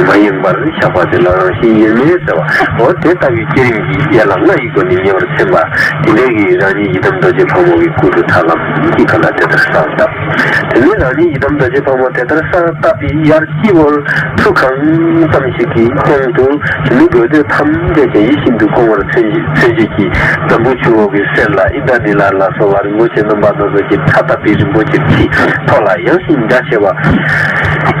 མ་ཡེངས་པར་བཞག་པ་དེ་ལ་རང་བཞིན་ཡོད་མིན་ཟེར་བ། འོ་དེ་ལྟ་བུའི་བསྐྱེད་རིམ་གྱི་ཡན་ལག་ལྔ་ཡི་སྒོ་ནས་ཉེ་བར་མཚོན་པ། དེ་འདྲའི་གིས་རང་ཉིད་ཡི་དམ་རྡོ་རྗེ་ཕག་མོ་གི་སྐུ་དུ་དྲག་ལམ་གྱིས་གང་དག་དེ་ལྟར་སར་བཏབ། དེ་ནས་རང་ཉིད་ཡི་དམ་རྡོ་རྗེ་ཕག་མོ་དེ་ལྟར་སར་བཏབ་པའི་ཡར་སྤྱི་བོར་ཁྲུ་གང་ཙམ་ཞིག་གི་སྟེང་དུ་དེ་མི་དགོས་འདོད་ཐམས་ཅད་ཀྱང་ཡིད་བཞིན་དུ་སྐོང་བར་མཚོན། མཚོན་བྱེད་ཀྱི་འཛམ་བུ་ཆུ་འོག་གི་གསེར་ལ་ཨིནྡྲ་ནཱི་ལ་ལ་སོགས་བར་མགོ་བྱས་རྣམ་པ་སྣ་ཚོགས་ཀྱི་ཁྲ་བཏབ་པའི་རིན་པོ་ཆེ་ཁྲི་ཐོག་ལ་ཡངས་ཤིང་རྒྱ་ཆེ་བ།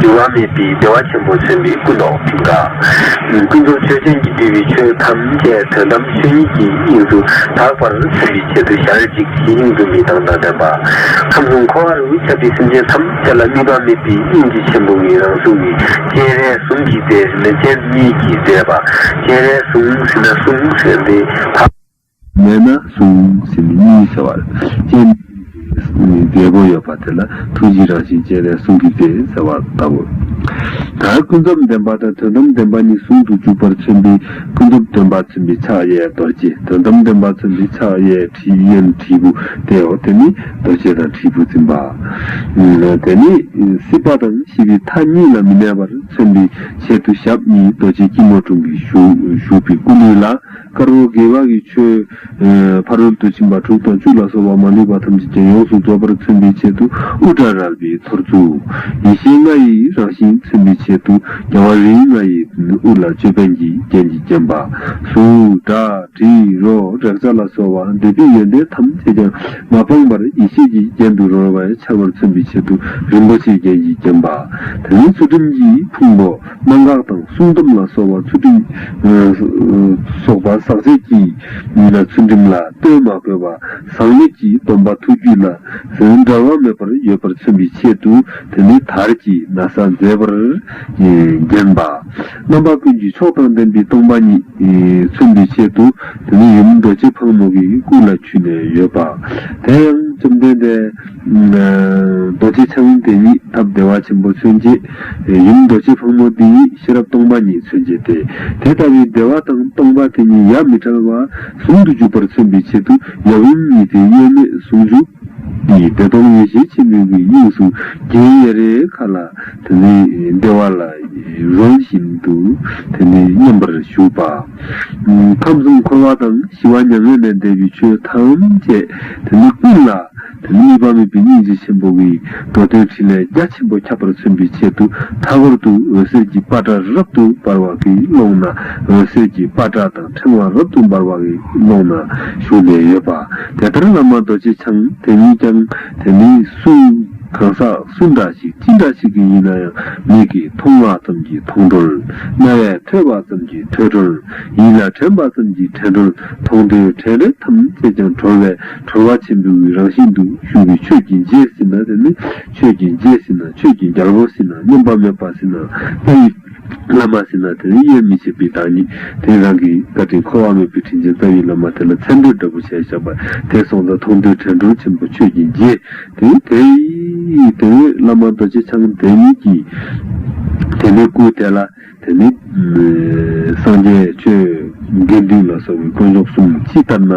འགྱུར་བ་མེད་པའི་བདེ་བ་ཆེན་པོ་སེམས་དཔའི་སྐུ་མདོག་མཐིང་ག། ཀུན་རྫོབ་ཆོས་ཅན་གྱི་འདུས་པའི་ཆོས་ཐམས་ཅད་དོན་དམ་ཆོས་ཉིད་ཀྱི་དབྱིངས་སུ་དག་པར་སེམས་པའི་ཆེད་དུ་ཞལ་གཅིག་གིས་དབྱིངས་འཛུམ་པའི་མདངས་དང་ལྡན་པ། ཁམས་གསུམ་འཁོར་བ་རུ་ཁྱབ་པའི་སེམས་ཅན་ཐམས་ཅད་ལ་དམིགས་པ་མེད་པའི་དབྱིངས་ཀྱི་ཆེན་པོ་ངེས་རང་གཟུགས་ནི་སྤྱན་རས་གཟུངས་ཀྱི་རྩལ་རིན་པོ་ཆེན་གཉིས་ཀྱིས་མཛེས་པ། སྤྱན་རས་གཟུངས་ཟིན་ན་གཟུངས་ཟེར་ཏེ། མེད་ན་གཟུང་ཟིན་མི་གཉིས་ཟེར་བར་སྤྱན་མི་གཉིས་ཀྱི་རྒྱལ་པོ་ཡོད་པ་དེ་ལ་ཐུགས་རྗེའི་རང་བཞིན་ཅན་ལས་གསུང་གི་རྗེ་ཟེར་བ་ལྟ་བུ། དར་ཀུན་རྫོབ་བདེན་པ་དང་དོན་དམ་བདེན་པ་གཉིས་ཟུང་དུ་འཇུག་པར་མཚོན་པའི་ཀུན་རྫོབ་སྟོན་པ་མཚོན་པའི་ཕྱག་གཡས་རྡོ་རྗེ་དོན་དམ་སྟོན་པ་མཚོན་པའི་ཕྱག་གཡས་དྲིའི་གཡོན་དྲིལ་བུ་དེའོ་དེ་ནི་རྡོ་རྗེ་དང་དྲིལ་བུ་འཛིན་པ། དེ་ནི་སྲིད་པ་དང་ཤི་བའི་མཐའ་གཉིས་ལ་མི་གནས་པར་མཚོན་པའི་ཆེད་དུ་ཞབས་གཉིས་རྡོ་རྗེ་སྐྱིལ་མོ་ཀྲུང་གིས་བཞུགས་པའི་སྐུ་ལུས་ལ་དཀར་པོ་དགེ་བ་གི་ཆོས། ཕ་རོལ་ཏུ་ཕྱིན་པ་དྲུག་དང་བཅུ་ལ་སོགས་པ་མ་ལུས་པ་ཐམས་ཅད་ཀྱང་ཡོངས་སུ་རྫོགས་པར་མཚོན་པའི་ཆེད་དུ་དབུ་སྐྲ་རལ་པའི་ཐོར་ཚུགས། ཡེ་ཤེས་ལྔ་ཡི་རང་བཞིན་མཚོན་པའི་ཆེད་དུ་རྒྱལ་བ་རིགས་ལྔ་ཡི་དབུ་ལ་ཅོད་པན་གྱི་རྒྱན་གྱིས་བརྒྱན་པ། གཟུགས། སྒྲ། དྲི། རོ། རེག་བྱ་ལ་སོགས་བ་འདོད་པའི་ཡོན་ཏན་ཐམས་ཅད་ཀྱང་མ་སྤངས་པར་ཡེ་ཤེས་ཀྱི་རྒྱན་དུ་རོལ་བས་འཆར་བར་མཚོན་པའི་ཆེད་དུ་རིན་པོ་ཆེའི་རྒྱན་གྱིས་བརྒྱན་པ། དེ་ནས་ཚུལ་ཁྲིམས་ཀྱི་ཕུང་པོ། གནང་བཀག་དང་སྲུང་སྡོམ་ལ་སོགས་པ་ཚུལ་ཁྲིམས། སོགས་པ་ཟག་བཅས་ཀྱི་ཚུལ་ཁྲིམས་ལ་ལྟོས་མ་དགོས་པར་ཟག་མེད་ཀྱི་སྡོམ་པ་ཐུགས་རྒྱུད་ལ་འདྲ་བ་མེད་པར་ཡོད་པར་མཚོན་པའི་ཆེད་དུ་དེ་ནི་དར་གྱི་ན་བཟའ་མཛེས་པར་བརྒྱན་པ། རྣམ་པ་ཀུན་གྱི་མཆོག་དང་ལྡན་པའི་སྟོང་པ་ཉིད་མཚོན་པའི་ཆེད་དུ་དེ་ནི་ཡུམ་རྡོ་རྗེ་ཕག་མོ་གི་སྐུ་ལ་འཁྱུད་ནས་ཡོད་པ། དེ་ཡང་བཅོམ་ལྡན་འདས་རྡོ་རྗེ་འཆང་དེ་ཉིད་ཐབས་བདེ་བ་ཆེན་པོ་མཚོན་བྱེད་ཡུམ་རྡོ་རྗེ་ཕག་མོ་འདི་ཉིད་ཤེས་རབ་སྟོང་པ་ཉིད་མཚོན་བྱེད་དེ། དེ་ལྟ་བུའི་བདེ་བ་དང་སྟོང་པ་དེ་ཉིད་ཡབ་མི་ཕྲལ་བ་ཟུང་དུ་འཇུག་པར་མཚོན་པའི་ཆེད་དུ་ཡབ་ཡུམ་གཉིས་ཏེ་དབྱེར་མེད་ཟུང་འཇུག་གིས་བདེ་སྟོང་ཡེ་ཤེས་ཆེན་མོའི་གུའི་དབྱིངས་སུ་དགྱེས་གཡས་རེ་ཁཱ་ལ་དེ་ནས་བདེ་བ་ལ་རོལ་བཞིན་དུ་དེ་ནས་མཉམ་པར་བཞུགས་པ། ཁམས་གསུམ་འཁོར་བ་དང་ཞི་བ་མྱ་ངན་ལས་འདས་པའི་ཆོས་ཐམས་ཅད་དེ་ནས་ཀུན་ལ། དེ་ནི་བ་མོ་བི་ཉིད་རྗེ་ཆེན་པོ་འི་འགྲོ་དོན་ཕྲིན་ལས་རྒྱ་ཆེན་པོ་ཁྱབ་པར་མཚོན་པའི་ཆེད་དུ་མཐའ་སྐོར་དུ་འོད་ཟེར་གྱི་པ་ཏྲ་རབ་ཏུ་འབར་བ་འི་ཀློང་ན་འོད་ཟེར་གྱི་པ་ཏྲ་དང་ཕྲེང་བ་རབ་ཏུ་འབར་བ་འི་ཀློང་ན་བཞུགས་ནས་ཡོད་པ། དེ་ལྟར་བླ་མ་རྡོ་རྗེ་འཆང་དེ་ཉིད་ཀྱང་དེ་ནི་སུ། གང་ཟག་སུ་འདྲ་ཞིག་ཅི་འདྲ་ཞིག་གི་ཡིན་ན་ཡང་མིག་གིས་མཐོང་བ་ཙམ་གྱིས་མཐོང་གྲོལ། རྣ་བས་ཐོས་པ་ཙམ་གྱིས་ཐོས་གྲོལ། ཡིད་ལ་དྲན་པ་ཙམ་གྱིས་དྲན་གྲོལ་མཐོང་ཐོས་དྲན་རེག་ཐམས་ཅད་ཀྱང་གྲོལ་བའི་གྲོལ་བ་ཆེན་པོའི་རང་བཞིན་དུ་ཞུགས་པའི་ཆོས་ཀྱི་རྗེས་ཟིན་ན་དེ་ནི་ཆོས་ཀྱི་རྗེས་ཟིན་ན་ཆོས་ཀྱི་རྒྱལ་པོ་ཟིན་ན་སྙོམས་པར་མོས་པ་ཟིན་ན་ལྷ་ཡི་བླ་མ་ཟིན་ན་དེ་ནི་དབྱེར་མི་ཕྱེད་པའི་བདག་ཉིད་དེ་རང་གི་བཀའ་དྲིན་འཁོར་བ་མེད་པའི་དྲིན་ཅན་རྩ་བའི་བླ་མ་དེ་ལ་མཚན་འབོད་འདྲ་པོ་བྱས་བཞག་པ་དེ་སོང་ཙང་མཐོང་ཐོས་དྲན་གྲོལ་ཆེན་པོ་ཆོས་ཀྱི་རྗེ་དེ་དེ་ཡི་དེ་བས་བླ་མ་རྡོ་རྗེ་འཆང་དེ་ཉིད་ཀྱིས་དེ་ནས་སྐུའི་དེ་ལ། དེ་ནི། སངས་རྒྱས་ཆོས་དགེ་འདུན་ལ་སོགས་པའི་དཀོན་མཆོག་གསུམ་ཅི་ལྟར་ན།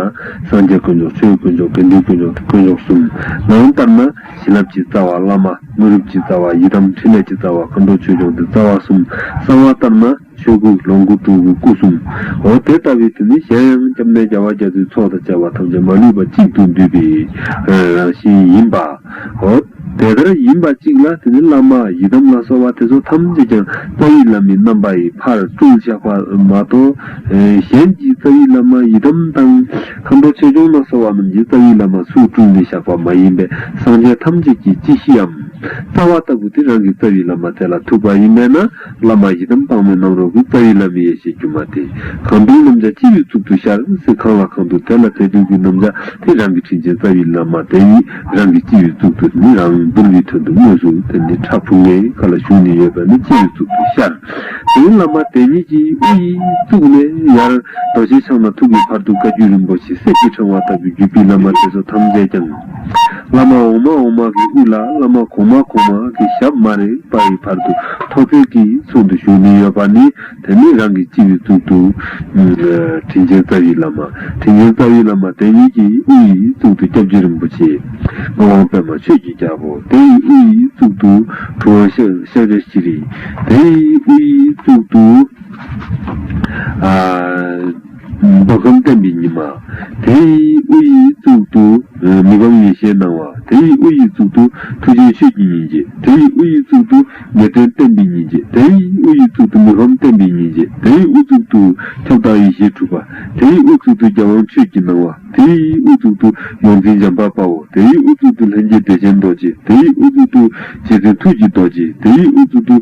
སངས་རྒྱས་དཀོན་མཆོག་ཆོས་དཀོན་མཆོག་དགེ་འདུན་དཀོན་མཆོག་གི་དཀོན་མཆོག་གསུམ། ནང་ལྟར་ན། བྱིན་རླབས་ཀྱི་རྩ་བ་བླ་མ། དངོས་གྲུབ་ཀྱི་རྩ་བ་ཡི་དམ་ཕྲིན་ལས་ཀྱི་རྩ་བ་མཁའ་འགྲོ་ཆོས་སྐྱོང་གི་རྩ་བ་གསུམ། གསང་བ་ལྟར་ན། ཆོས་སྐུ་ལོངས་སྐུ་སྤྲུལ་སྐུ་སྐུ་གསུམ། འོ་དེ་ལྟ་བུའི་དུས་ནི་གཞན་ཡང་སྐྱབས་གནས་རྒྱལ་བ་རྒྱ་མཚོའི་ཚོགས་དང་བཅས་པ་ཐམས་ཅད་མ་ལུས་པ་གཅིག་ཏུ་འདུས་པའི་རང་བཞིན་ཡིན་པ། འོ། དེ་ལྟར་ཡིན་པ་གཅིག་ལ་དེ་ནས་བླ་མ་ཡི་དམ་ལ་སོགས་པ་དེ་ཚོ་ཐམས་ཅད་ཀྱང་རྩ་བའི་བླ་མའི་རྣམ་པ་ཡི་ཕར་ལྟུང་བཤགས་པ་མ་གཏོགས། གཞན་གྱི་རྩ་བའི་བླ་མ་ཡི་དམ་དང། མཁའ་འགྲོ་ཆོས་སྐྱོང་ལ་སོགས་པ་རྣམས་ཀྱི་རྩ་བའི་བླ་མ་སུས་བསྐྲུན་ཏེ་བཤགས་པ་མ་ཡིན་པའི་སངས་རྒྱས་ཐམས་ཅད་ཀྱི་སྤྱི་གཞིའམ། རྩ་བ་ལྟ་བུ་དེ་རང་གི་རྩ་བའི་བླ་མ་དེ་ལ་ཐུག་པ་ཡིན་པས་ན། བླ་མ་ཡི་དམ་དཔའ་མོའི་རྣམ་རོལ་གྱི་རྩ་བའི་བླ་མའི་ཡེ་ཤེས་སྒྱུ་མ་དེ། གང་དུ་རྣམ་བྱ་ཅི་ཡོད་གཙུག་ཏུ་ཤར་སེ་གང་ལ་གང་འདུག་དེ་ལ་དེ་དུས་ཀྱི་རྣམ་བྱ་དེ་རང་གི་དྲིན་ཅན་རྩ་བའི་བླ་མ་དེ་ཡིས་རང་གི་ཅི་ཡོད་གཙུག་ཏུ་ནི་རང་བསྡུར་བའི་དོན་དུ་སྨོས་སུ་དེ་ནི་ཁྲག་ཕུང་ལྔའི་ཁ་ལ་ཞུགས་ནས་ཡོད་པ་ནི་ཅི་ཡོད་གཙུག་ཏུ་ཤར་སེའི་བླ་མ་དེ་ཉིད་ཀྱིས་དབུ་ཡི་གཙུག་ནས་ཡར་རྡོ་རྗེ་འཆང་ན་ཐུག་གི་བར་དུ་བཀའ་བརྒྱུད་རིན་པོ་ཆེ་གསེར་གྱི་ཕྲེང་བ་ལྟ་བུའི་བརྒྱུད་པའི་བླ་མ་དེ་ཚོ་ཐམས་ཅད་ཀྱང། བླ་མ་འོག་མ་འོག་མ་གི་དབུས་ལ་བླ་མ་གོང་མ་གོང་མ་གི་ཞབས་མ་རེག་པ་ཡི་བར་དུ་ཐོ་བརྩེགས་ཀྱི་ཚུལ་དུ་བཞུགས་ནས་ཡོད་པ་ནི་དེ་ནི་རང་གི་སྤྱི་བའི་གཙུག་ཏུ། དྲིན་ཅན་རྩ་བའི་བླ་མ། དྲིན་ཅན་རྩ་བའི་བླ་མ་དེ་ཉིད་ཀྱི་དབུ་ཡི་གཙུག་ཏུ་སྐྱབས་རྗེ་རིན་པོ་ཆེ། ངག་དབང་པད་མ་ཆོས་ཀྱི་རྒྱལ་པོ་དེ་ཡི་དབུ་ཡི་གཙུག་ཏུ་གྲུབ་དབང་གཤེན་རྗེ་ཤྲཱི་རི། དེ་ཡི་དབུ་ཡི་གཙུག་ཏུ། མདོ་གསུམ་བསྟན་པའི་ཉི་མ། དེ་ཡི་དབུ་ཡི་གཙུག་ཏུ། མི་སྒོམ་ཡེ་ཤེས་སྣང་བ། དེ་ཡི་དབུ་ཡི་གཙུག་ཏུ། ཐུགས་རྗེའི་ཆོས་ཀྱི་སྙིང་རྗེ། དེ་ཡི་དབུ་ཡི་གཙུག་ཏུ། ངེས་དོན་བསྟན་པའི་སྙིང་རྗེ། དེ་ཡི་དབུ་ཡི་གཙུག་ཏུ། མི་ཕམ་བསྟན་པའི་སྙིང་རྗེ། དེ་ཡི་དབུ་གཙུག་ཏུ། ཁྱབ་བདག་ཡེ་ཤེས་གྲུབ་པ། དེ་ཡི་དབུ་གཙུག་ཏུ། རྒྱལ་དབང་ཆོས་ཀྱི་སྣང་བ། དེ་ཡི་དབུ་གཙུག་ཏུ། ཡོངས་འཛིན་འཇམ་དཔལ་དཔའ་བོ། དེ་ཡི་དབུ་གཙུག་ཏུ། ལྷན་སྐྱེས་བདེ་ཆེན་རྡོ་རྗེ། དེ་ཡི་དབུ་གཙུག་ཏུ། རྗེ་བཙུན་ཐུགས་ཀྱི་རྡོ་རྗེ། དེ་ཡི་དབུ་གཙུག་ཏུ།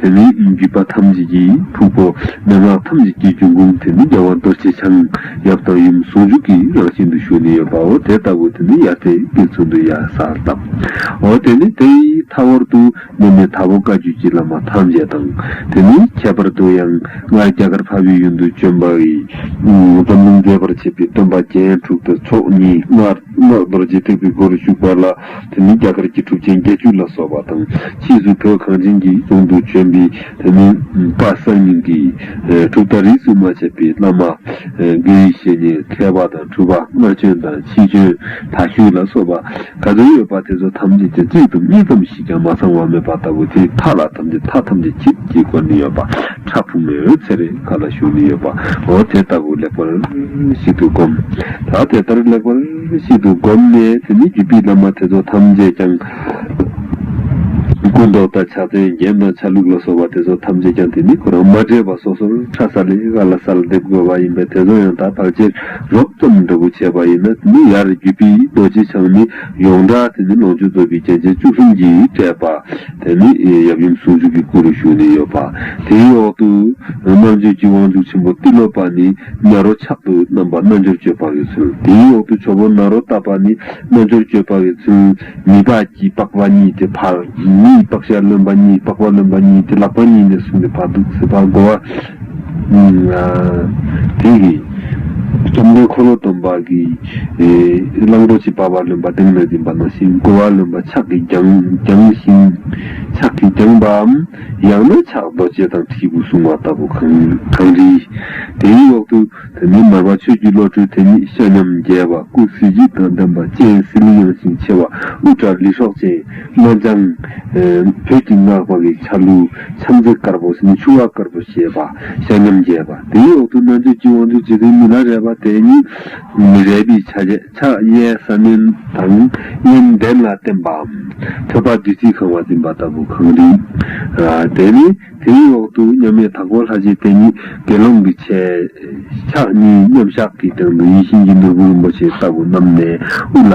དེ་ནི་རྒྱུད་པ་ཐམས་ཅད་ཀྱི་ཕུང་པོ་མན་ངག་ཐམས་ཅད་ཀྱི་རྒྱུན་ཀུན་དུ་མི་འགལ་བ་རྡོ་རྗེ་འཆང་ཡབ་དང་ཡུམ་ཟུང་འཇུག་གི་རང་བཞིན་དུ་བཞུགས་ནས་ཡོད་པའོ་དེ་ལྟ་བུ་དེ་ནི་ཡར་ཐེག་དགེ་ཚུལ་དུ་ཡང་གསར་བཏབ་འོ་དེ་ནི་དེའི་མཐའ་བར་དུ་གནས་མལ་དྭགས་པོ་བཀའ་བརྒྱུད་ཀྱི་བླ་མ་ཐམས་ཅད་དང་དེ་ནི་ཁྱད་པར་དུ་ཡང་སྔར་རྒྱ་གར་འཕགས་པའི་ཡུལ་དུ་བྱོན་པའི་འཛམ་གླིང་མཛེས་པར་བྱེད་པའི་སྟོན་པ་རྒྱན་དྲུག་ཏུ་ཚོགས་གཉིས་སྔགས་རྡོ་རྗེ་ཐེག་པའི་སྒོ་རུ་བཞུགས་པ་ལ། བོད་མིའི་རྒྱ་གར་གྱི་གྲུབ་ཆེན་བརྒྱད་ཅུ་ལ་སོགས་པ་དང་ཕྱིས་སུ་བོད་གངས་ཅན་གྱི་རྫོང་དུ་བྱོན་པའི་བོད་མི་དཔའ་གསར་རྙིང་གི་གྲུབ་མཐའ་རིས་སུ་མ་ཆད་པའི་བླ་མ། དགེ་བའི་བཤེས་གཉེན་མཁས་པ་དང་གྲུབ་པ་སྔར་བྱོན་དང་ཕྱིས་བྱོན་དག་ཤུལ་ལ་སོགས་པ་ག་ཚོད་ཡོད་པ་དེ་ཚོ་ཐམས་ཅད་ཀྱི་གཅིག་དང་གཉིས་ཙམ་ཞིག་ཀྱང་མ་ཚང་བ་མེད་པ་ལྟ་བུ་དེའི་མཐའ་ལ་ཐམས་ཅད་མཐའ་ཐམས་ཅད་ཁྱེད་ཀྱིས་བཀོད་ནས་ཡོད་པ་ཁྲ་ཕུག་མའི་འོད་ཟེར་རེ་ག་ལ་བཞུགས་ནས་ཡོད་པའོ་དེ་ལྟ་བུ་ལེགས་པར་ཞིག་ཏུ་བསྒོམ། ད་དེ་ལྟར་ལེགས་པར། ཚུལ་ཞིག་ཏུ་བསྒོམས་ནས་དེ་ཉིད་ཀྱི་དཔེའི་བླ་མ་དེ་ཚོ་ཐམས་ཅད་ཀྱང། སྐུ་མདོག་དང་ཕྱག་མཚན་རྒྱན་དང་ཆ་ལུགས་ལ་སོགས་པ་དེ་ཚོ་ཐམས་ཅད་ཀྱང་དེ་ཉིད་ཁོ་རང་མ་འདྲེས་པ་སོ་སོར་ཕྲ་ས་ལས་ཨ་ལ་ས་ལ་འདེབས་དགོས་པ་ཡིན་པས་དེ་ཚོ་ཡང་དག་བག་ཕྱིར་རོབ་ཙམ་འདྲ་བོ་བྱས་པ་ཡིན་ན་དེ་ནི་ཡར་རྒྱུད་དཔེའི་རྡོ་རྗེ་འཆང་ནི་ཡོངས་གྲགས་དེ་ནི་ལོངས་སྤྱོད་རྫོགས་པའི་རྒྱན་ཆ་བཅུ་གསུམ་གྱིས་སྤྲས་པ་དེ་ནི་ཡབ་ཡུམ་ཟུང་འཇུག་གི་སྐུ་རུ་བཞུགས་ནས་ཡོད་པ་དེའི་འོག་ཏུ་རྣམ་དཔྱོད་ཀྱི་དབང་ཕྱུག་ཆེན་པོ་ཏི་ལོ་པ་ནི། ནཱ་རོ་ཕྱག་ཏུ་བསྣམས་པ་རྣལ་འབྱོར་སྤྱོད་པ་བའི་ཚུལ། དེའི་འོག་ཏུ་ཆོ་འཕོ་ནཱ་རོ་བཏབ་པ་ནི་རྣལ་འབྱོར་སྤྱོད་པ་བའི་ཚུལ། མི་ལྤགས་ཀྱིས་ལྤགས་པ་གཉིས་ཏེ་ཕར་གཉིས་ལྤགས་ཤར་རློན་པ་གཉིས་ལྤགས་པ་རློན་པ་གཉིས་ཏེ་ལག་པ་གཉིས་ནས་བཟུང་ནས་བར་དུ་ཚིགས་པར་བསྒོ་བ། དེ་ཡི་བཅོམ་ལྡན་འཁོར་ལོ་སྡོམ་པ་གྱི་གླང་པོ་ཆེ་འབར་བ་རློན་པ་གདེངས་ནས་འཛིན་པ་ནོ་ཞིང་བསྒོ་བ་རློན་པ་ཕྱག་གིས་བརྒྱངས་ཤིང་ཕྱག་གིས་བརྒྱངས་པའམ། ཡང་ན་ཕྱག་རྡོ་རྗེ་དང་དྲིལ་བུ་བཟུང་བ་ལྟ་བུ་གང་བྲིས། དེའི་འོག་ཏུ་དེ་ནས་མར་པ་ཆོས་ཀྱི་བློ་གྲོས་དེ་ཉིད་ཤ་མཉམ་རྒྱས་པ་སྐུ་གཟི་བརྗིད་དང་ལྡན་པ་སྤྱན་གཟི་ལུས་ཡངས་ཤིང་ཆེ་བ་དབུ་སྐྲ་ལི་ཧྲོག་ཅན་རྣ་ལྗང། བོད་ཀྱི་སྔགས་པ་ལི་ཆ་ལུ་ཆམ་རྩེ་དཀར་པོ་ནི་ཆུ་བ་དཀར་པོ་ཞེས་པ་ཤ་མཉམ་རྒྱས་པ་དེའི་འོག་ཏུ་རྣལ་འབྱོར་གྱི་དབང་ཕྱུག་རྗེ་བཙུན་མི་ལ་རས་པ་དེ་ཉིད། མི་རལ་པའི་ཆ་བྱད་ཕྱག་གཡས་ས་བསྣོལ་དང་གཡོན་གདན་ལ་བརྟེན་པའམ། ཐོད་པ་བདུད་རྩིས་གང་བ་འཛིན་པ་ལྟ་བུ་གང་རིགས། དེ་ནས་དེའི་འོག་ཏུ་མཉམ་མེད་དྭགས་པོ་ལྷ་རྗེ་བསྟན་གཉིས་དགེ་སློང་གི་ཆས། ཕྱག་གཉིས་མཉམ་གཞག་གི་སྟེང་དུ་ཡིད་བཞིན་གྱི་ནོར་བུ་རིན་པོ་ཆེ་ལྟ་བུ་བསྣམས་ནས་དབུ་ལ།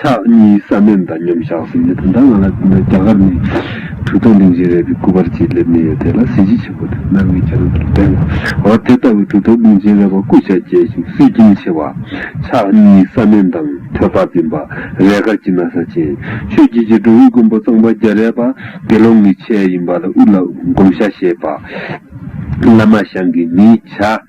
ཕྱག་གཉིས་ས་སྨད་དང་མཉམ་བཞག་ཟིན་རྗེས་ད་ལྟ་ང་ལ་རྒྱ་གར་ནས་གྲོས་ཚོགས་འཛིན་བྱེད་རེ་བའི་སྐུ་པར་ཅིག་སླེབས་ནས་ཡོད་དེ་ལ་གཟི་བརྗིད་ཆེན་པོ་དང་རྣ་བའི་རྒྱ་རུ་དང་ལྡན་ལ། འོ་དེ་ལྟ་བུའི་གྲོས་ཚོགས་འཛིན་བྱེད་རེ་བ་སྐུ་ཕྱྭ་རྒྱལ་ཞིང་སྲིད་ཀྱིན་ཆེ་བ། ཕྱག་གཉིས་ས་སྨད་དང་ཐོད་པ་འཛིན་པ། རས་དཀར་གྱི་ན་བཟའ་ཅན། ཆོས་བརྒྱུད་ཀྱི་འགྲོ་བའི་མགོན་པོ་གཙང་པ་རྒྱ་རས་པ་དགེ་སློང་གི་ཆས་ཡིན་པ་ལ་དབུ་ལ་བསྒོམ་བྱ་ཞེས་པ། བླ་མ་ཞང་གི་མིས་བྱ།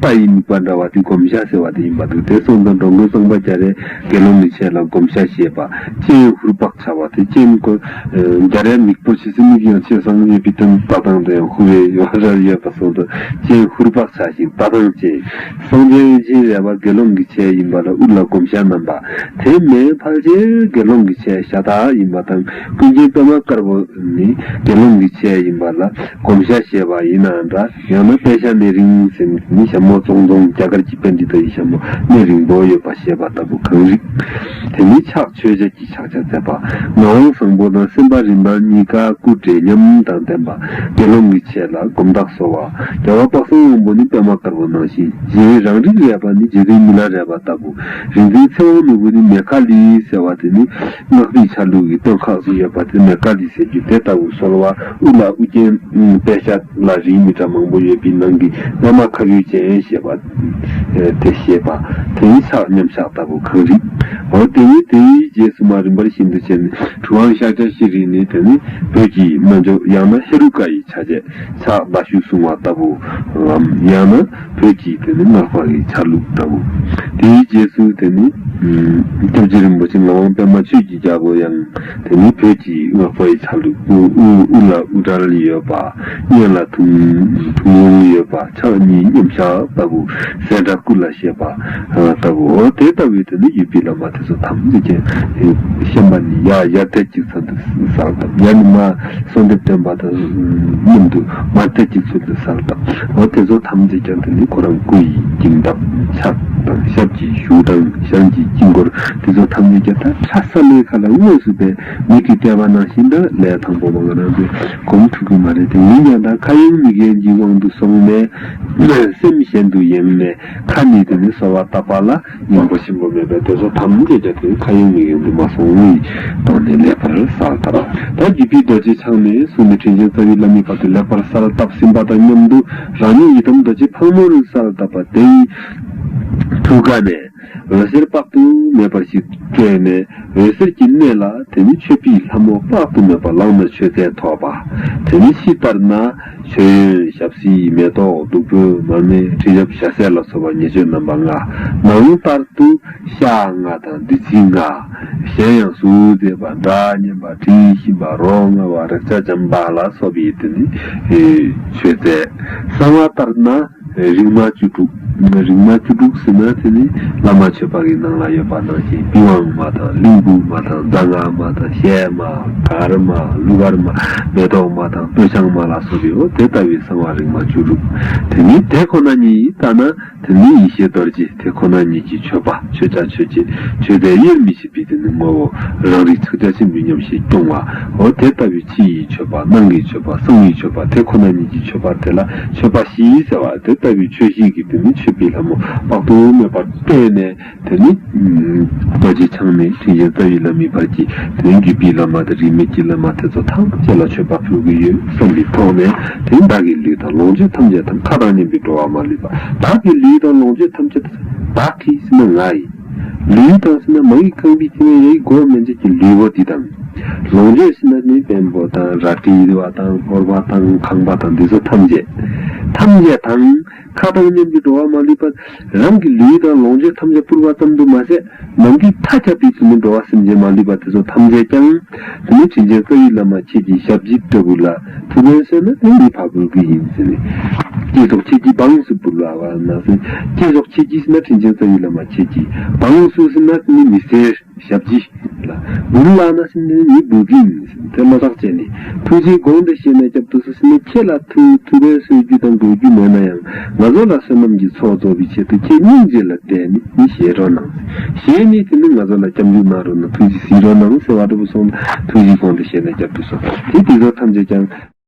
པ་ཡི་དམིགས་པ་འདྲ་བ་དེ་བསྒོམ་བྱ་ཟེར་བ་དེ་ཡིན་པ་འདུག་དེར་སོང་དང་འགྲོ་མགོན་གཙང་པ་རྒྱ་རའི་དགེ་སློང་མི་ཆེ་ལ་བསྒོམ་བྱ་ཞེས་པ། སྤྱན་ཧུར་བག་བྱ་བ་དེ་སྤྱན་བསྐོར། རྒྱ་རའི་མིག་སྤོ་བྱེད་ཚེ་མིག་ཡང་ཆེས་བཟང་ངེས་པའི་དོན་ལྟ་སྟངས་དེ་ཡང་ཧུར་བའི་ཡོ་བ་རབ་ཡོད་པར་སོང་དང་སྤྱན་ཧུར་བག་བྱ་ཞིང་ལྟ་སྟངས་སྤྱན་བཟང་སྤྱན་དབེན་སྤྱན་རལ་བ་དགེ་སློང་གི་ཆས་ཡིན་པ་ལ་དབུ་ལ་བསྒོམ་བྱ་བསྣམས་པ། དེ་མེ་ཕག་སྤྱན་དགེ་སློང་གི་ཆས་ཤ་དག་ཡིན་པ་དང་ཀུན་མཁྱེན་པདྨ་དཀར་པོ་ནི་དགེ་སློང་གི་ཆས་ཡིན་པ་ལ་བསྒོམ་བྱ་ཞེས་པ་ཡིན་ནའང་འདྲ། ཡང་ན་དཔལ་ཞྭ་གནས་རིང་ཟེར་མི་ནི་ཞྭ་མོ་ཙོང་ཙོང་རྒྱ་གར་གྱི་དཔལ་འདི་དག་ཡི་ཞྭ་མོ་གནས་རིང་བོ་ཡོད་པ་ཞེས་པ་ལྟ་བུ་གང་རིགས། དེ་ནི་ཕྱག་མཆོད་ཆས་ཀྱི་ཕྱག་ཆ་མཛད་པ། ངག་དབང་བཟང་པོ་དང་སེམས་དཔའ་རིམ་པ་གཉིས་ཀ་སྐུ་བགྲེས་ཉམས་དང་ལྡན་པ། དགེ་སློང་གི་ཆས་ལ་སྒོམ་རྟགས་གསོལ་བ། རྒྱལ་བ་དཔག་བསམ་དབང་པོ་ནི་པདྨ་དཀར་པོ་ནང་བཞིན་གཞན་རི་རང་རིགས་རས་པ་ནི་རྗེ་བདུན་མི་ལ་རས་པ་ལྟ་བུ། རིག་འཛིན་ཚེ་དབང་ནོར་བུ་ནི་མེ་ཁ་ལི་ཟེར་བ་དེ་ནི། ནོར་སྦིས་ཆ་ལུགས་ཀྱི་གཏོར་ཁ་སུ་ཡོད་པ་དེ་ནས་བཀའ་འདྲི་ཟེར་རྒྱུ་དེ་ལྟ་བུ་སོལ་བ་དབུ་ལ་དབུ་རྒྱན་པད་ཤ་ལ་རིའི་མི་ཏྲ་མང་པོ་ཡོད་པའི་ནང་གི་རྔ་མ་ཁ་ཡུ་ཅན་ཞེས་པ་དེ་བཞེས་པ་དེའི་ཕྱག་མཉམ་ཞག་ལྟ་བུ་གང་རིགས་འོ་དེ་ཡིན་དེའི་རྗེས་སུ་མ་རིན་པར་ཤིན་ཏུ་ཆེ་ནི་གྲུབ་དབང་ཤཱཀྱ་ཤྲཱི་རིའི་ནི་དེ་ནི་བོད་ཀྱི་སྨན་ཆུ་ཡང་ན་ཧེ་རུ་ཀ་ཡི་ཆ་བྱད་ཕྱག་ཟླ་ཞུ་གསུང་བ་ལྟ་བུའམ་ཡང་ན། བོད་ཀྱི་དེ་ནི་སྔགས་འཕགས་ཀྱི་ཆ་ལུགས་ལྟ་བུ། དེའི་རྗེས་སུ་དེ་ནི། སྐྱབས་རྗེ་རིན་པོ་ཆེ་ངག་དབང་པད་མ་ཆོས་ཀྱི་རྒྱལ་པོ་ཡང་དེ་ནི་བོད་ཀྱི་སྔགས་འཕགས་ཀྱི་ཆ་ལུགས། དབུ་ལ་དབུ་སྐྲ་ཡོད་པ། གཡོན་ལ་ཐུང་ལུང་ཡོད་པ་ཕྱག་གཉིས་མཉམ་གཞག་ལྟ་བུ། སྲས་སྒྲ་སྐུ་ལ་བཤད་པ་ལྟ་བུ། དེ་ལྟ་བུའི་དེ་ནི་ཡུལ་སྤྱི་ལ་མ་ཐོས་སོ་ཐམས་ཅད་ཅན། ཤན་པ་ནི་ཡར་ཡར་ཐལ་གཅིག་ཚང་དུ་བསགས། ཡར་ནི་མ། གསོལ་འདེབས་སྟོན་པ་དང་མཉམ་དུ་མར་སྟོད་ཀྱི་ཚུལ་དུ་སར་བཏབ། ལོ་དེ་ཚོ་ཐམས་ཅད་ཀྱང་དེ་ནི་ཁོ་རང་སྐུ་ཡི་འགྱིང་སྟབས་ཕྱག་དང་ཞབས་ཀྱི་གཞུག་དང་ཞང་གི་དཀྱིལ་འཁོར་དེ་ཚོ་ཐམས་ཅད་ཀྱང་ད་ཆ་ས་ལེའི་ཁ་ལ་དངོས་སུ་པའི་མིག་གིས་བལྟས་པ་ནང་བཞིན་དང་ལས་དང་པོ་བ་ང་རང་ཚོའི་གོམ་ཁྲུ་གུ་མ་རེད་དེ་ཡིན་ཀྱང་ད་ཁ་ཡོང་མིག་ཡོང་གི་དབང་དུ་སོང་ནས་སེམས་གཞན་དུ་ཡེངས་ནས་ཁ་ནི་དེ་ནི་གསོལ་བ་བཏབ་པ་ལ། མང་པོ་ཞིམ་པོ་མེད་པའི་དེ་ཚོ་ཐམས་ཅད་ཀྱང་དེའི་ཁ་ཡོང་མིག་ཡོང་དུ་མ་སོང་ངུས་བཏང་ནས་ལེགས་པར་གསར་བཏབ། ད་རྒྱུད་པའི་རྡོ་རྗེ་འཆང་ནས་བཟུང་ནས་དྲིན་ཅན་རྩ་བའི་བླ་མའི་བར་དུ་ལེགས་པར་གསར་བཏབ་ཟིན་པ་དང་མཉམ་དུ་རང་ཉིད་ཡི་དམ་རྡོ་རྗེ་ཕག་མོ་རུ་གསར་བཏབ་པ་དེའི་ཐུགས་ཀ་ནས་འོད་ཟེར་དཔག་ཏུ་མེད་པར་ཞིག་སྤྲོས་ནས་འོད་ཟེར་གྱི་གནས་ལ་དེ་ནས་མཆོད་པའི་ལྷ་མོ་དཔག་ཏུ་མེད་པ་ལངས་ནས་མཆོད་རྫས་ཐོགས་པ་དེ་ནས་ཕྱི་ལྟར་ན། མཆོད་ཡོན་ཞབས་བསིལ་མེ་ཏོག་བདུག་སྤོས་མར་མེ་ཁྲི་ཞབས་ཞྭ་སེར་ལ་སོགས་པ་ཉེར་སྤྱོད་རྣམ་པ་ལྔ། ནང་ལྟར་དུ་ཤ་ལྔ་དང་བདུད་རྩི་ལྔ། གཞན་ཡང་ཟུར་མཛེས་པ་སྒྲ་སྙན་པ་དྲི་ཞིམ་པ་རོ་མངར་བ་རེག་བྱ་འཇམ་དཔལ་ལ་སོགས་པའི་དུས་ནས་མཆོད་རྫས། གསང་བ་ལྟར་ན། རིག་མ་བཅུ་དྲུག། རིག་མ་བཅུ་དྲུག་ཟེར་ན་དེ་ནི་བླ་མ་ཆོས་པ་ཀྱི་ནང་ལ་ཡོད་པ་ནང་བཞིན་པི་ཝང་མ་དང་གླིང་བུ་མ་དང་རྫ་སྔགས་མ་དང་གཤེད་མ། གར་མ། གླུ་གར་མ། མེ་ཏོག་མ་དང་སྤོས་ཆང་མ་ལ་སོགས་པའོ་དེ་ལྟ་བུའི་གསང་བ་རིག་མ་བཅུ་དྲུག། དེ་ནི་དེ་ཁོ་ན་ཉིད་ཡིན་བརྟགས་ན་དེ་ནི་ཡེ་ཤེས་རྡོ་རྗེ་དེ་ཁོ་ན་ཉིད་ཀྱི་མཆོད་པ་མཆོད་བྱ་མཆོད་བྱེད་མཆོད་པའི་དབྱེར་མི་ཕྱེད། པའི་དོན་ནི་ངོ་བོ་རང་རིག་ཚིག་སྒྲ་ཕྱི་མི་སྙོམས་ཞེས་སྐྱོང་བའོ། དེ་ལྟ་བུའི་ཕྱི་ཡི་མཆོད་པ་སྣང་གི་མཆོད་པ་གསང་བའི་མཆོད་པ་དེ་ཁོ་ན་ཉིད་ཀྱི་མཆོད་པ་དེ་ལ་མཆོད་པ་བཞི་ཟེར་བ་དེ་ལྟ་བུའི་ཆོས་བཞི་གི་དོན་ནི་མཆོད་པའི་ལྷ་མོ་དཔག་ཏུ་མེད་པར་བསྟན་ནས་དེ་ནི། རྡོ་རྗེ་འཆང་མའི་ཐུགས་བཞིན་རྩ་བའི་བླ་མའི་བར་གྱི་དོན་བརྒྱུད་པའི་བླ་མ་དང་རིས་མེད་ཀྱི་བླ་མ་དེ་ཚོ་ཐམས་ཅད་ལ་མཆོད་པ་ཕུལ་གྱི་ཡོད་བསམ་པའི་ཐོག་ནས་དེ་བདག་གི་ལུས་དང་ལོངས་སྤྱོད་ཐམས་ཅད་དམ་མཁའ་དང་མཉམ་པའི་འགྲོ་བ་མ་ལུས་པ་བདག་གི་ལུས་དང་ལོངས་སྤྱོད་ཐམས་ཅད་བདག་གིས་ཟིན་ན་ང་ཡི། ལུས་དང་སྲིད་ན་མ་ཡིག་ཁང་པའི་ཕྱི་མའི་ཡ་ཡིག་སྒོ་མེ་འབྱེད་ཀྱི་ལུས་པོ་འདི་དང། ལོངས་སྤྱོད་སྲིད་ན་ནི་བེམ་པོ་དང་རལ་གྲི་ཡིད་བ་དང་ཧོར་བ་དང་ཁང་པ་དང་འདི་ཚོ་ཐམས་ཅད། ཐམས་ཅད་དང། ཁ་དང་སྙམ་གྱི་འགྲོ་བ་མ་ལུས་པ། རང་གི་ལུས་དང་ལོངས་སྤྱོད་ཐམས་ཅད་བསྐུར་བ་ཙམ་དུ་མ་ཟད། ནམ་དུས་མཐའ་ཁྱབ་པའི་ཚུལ་ནི་འགྲོ་བ་སེམས་ཅན་མ་ལུས་པ་དེ་ཚོ་ཐམས་ཅད་ཀྱང། མི་དྲིན་ཆེན་བཀའ་ཡི་བླ་མ་ཁྱེད་ཀྱི་ཞབས་ཀྱི་སྐྲ་བུ་ལ་ཕུ་བན་གསོས་ན་དེ་ཡི་བག་ཕེབས་ཀྱི་ཡིན་ཟེར་བས། སྐྱེས་སོགས་ཁྱེད་ཀྱིས་བག་ཡངས་སུ་འབུལ་བ་བ་ན་ཟེར། སྐྱེས་སོགས་ཁྱེད་ཀྱིས་ན་དྲིན་ཆེན་བཀའ་ཡི་བླ་མ་ཁྱེད་ཀྱིས་བག་ཡངས་སུ་ཟེར་ན་ནི་མི་ཟེར་ཞབས་ཀྱི་ལ་འབུལ་བ་ན་ཟེར་ནས་ནི་འབུལ་གྱི་ཡིན་ཟེར་དེ་བློ་ཐག་བཅད་ནས་ཐུགས་རྗེའི་དགོངས་འདི་བཞེས་ན་སྐྱབས་འགྲོ་སུ་ཟེར་ནས་ཁྱེད་ལ་ཐུ་ཐུ་བན་གསོས་རྒྱུ་དང་དགོས་རྒྱུ་མེད་ན་ཡང་ང་ཚོ་ལ་བསོད་ནམས་ཀྱི་ཚོགས་རྫོགས་པའི་ཆེད་དུ་ཁྱེད་སྙིང་རྗེ་ལ་དད་ནས་ནི་ཞལ་དྲོ་གནང། གཞན་ནི་དེ་ནི་ང་ཚོ་ལ་སྐྱབས་འཇུག་གནང་རོགས་ན་ཐུགས་རྗེ་གཟིགས་རོགས་གནང་ཟེར་བ་ལྟ་བུ་སོང་ན་ཐུགས་རྗེ་གོང་དུ་བཞེས་ན་སྐྱབས་འགྲོ་སོང་དེ་དེ་ཚོ་ཐམས་ཅད་ཀྱང།